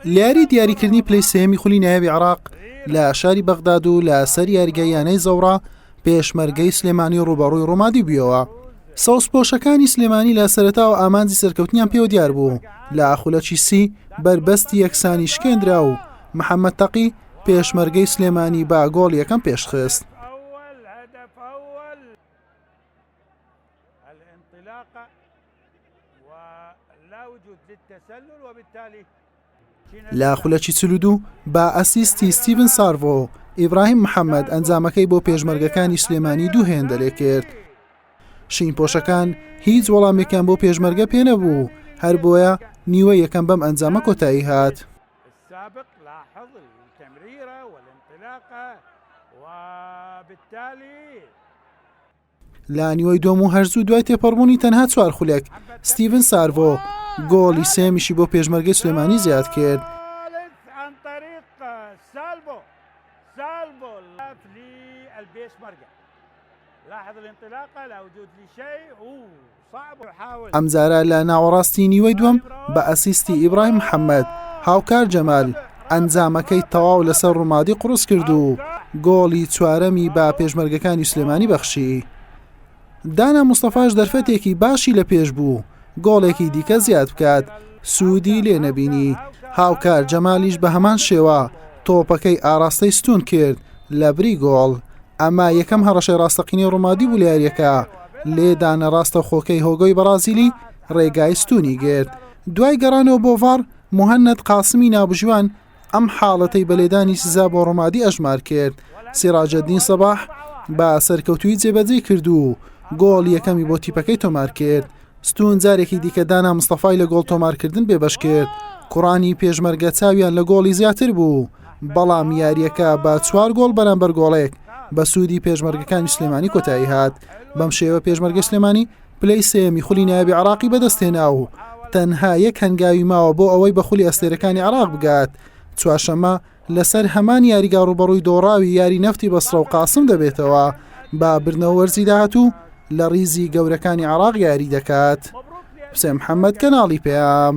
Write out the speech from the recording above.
لە یاری دیاریکردنی پلەی سێیەمی خولی نایابی عێراق لە شاری بەغداد و لە سەر یاریگای یانەی زەوڕا پێشمەرگەی سلێمانی ڕوبەڕووی ڕۆمادی بوویەوە سەوزپۆشەکانی سلێمانی لە سەرەتا و ئامانجی سەرکەوتنیان پێوە دیار بوو لە خولەکی سی بەربەستی یەکسانی شکێنرا و محەممەد تەقی پێشمەرگەی سلێمانی با گۆڵ یەکەم پێشخست لە خولەکی چل و دوو بە ئەسیستی ستیڤن سارڤۆ و ئیبراهیم محەممەد ئەنجامەکەی بۆ پێشمەرگەکانی سلێمانی دوو هێندەرێ کرد شین پۆشەکان هیچ وەڵامێکیان بۆ پێشمەرگە پێ نەبوو هەر بۆیە نیوە یەکەم بەم ئەنجامە کۆتایی هات لە نیوەی دوم و هەرزوو دوای تێپەڕبوونی تەنها چوار خولێک ستیڤن سارڤۆ گۆڵی سێمیشی بۆ پێشمەرگەی سلێمانی زیاد کرد. ئەمجارە لە ناوەڕاستی نیوەی دووەم بە ئەسیستی ئیبراهیم محەممەد هاوکار جەمال ئەنجامەکەی تەواو لەسەر ڕوومادی قوڕس کرد و گۆڵی چوارەمی بە پێشمەرگەکانی سلێمانی بەخشی دانا مستەفاش دەرفەتێکی باشی لە پێش بوو گۆڵێکی دیکە زیاد بکات سوودی لێ نەبینی هاوکار جەمالیش بە هەمان شێوە تۆپەکەی ئاراستەی ستون کرد لە بری گۆڵ ئەمە یەکەم هەڕەشەی ڕاستەقینەی ڕوومادی بولیارەکە لێدانە ڕاستەوخۆکەی هۆگۆی بەڕازیلی ڕێگای ستونی گرت دوای گەڕانەوە بۆ ڤار مهند قاسمی ناوبژوان ئەم حاڵەتەی بە لێدانی سزا بۆ ڕۆمادی ئەژمار کرد سیراجەدین سەباح بە سەرکەوتوی جێبەجێ کرد و گۆڵ یەکەمی بۆ تیپەکەی تۆمار کرد ستون جارێکی دیکە دانا مستەفای لە گۆڵ تۆمارکردن بێبەش کرد کوڕانی پێشمەرگە چاویان لە گۆڵی زیاتر بوو بەڵام یارییەکە بە چوار گۆڵ بەرامبەر گۆڵێک بە سوودی پێشمەرگەکانی سلێمانی کۆتایی هات بەم شێوە پێشمەرگە سلێمانی پلەی سێمی خولی نایبی عراقی بەدەستێنا و تەنها یەک هەنگاوی ماوە بۆ ئەوەی بە خولی ئەستێرەکانی عراق بگات چوارشەمە لەسەر هەمان یاریگا ڕوبەڕووی دۆڕاوی یاری نەفتی بەسڕە و قاسم دەبێتەوە با بردنەوە وەرزی داهاتوو لە ریزی گەورەکانی عراق یاری دەکات حسێن محەممەد کەناڵی پێام.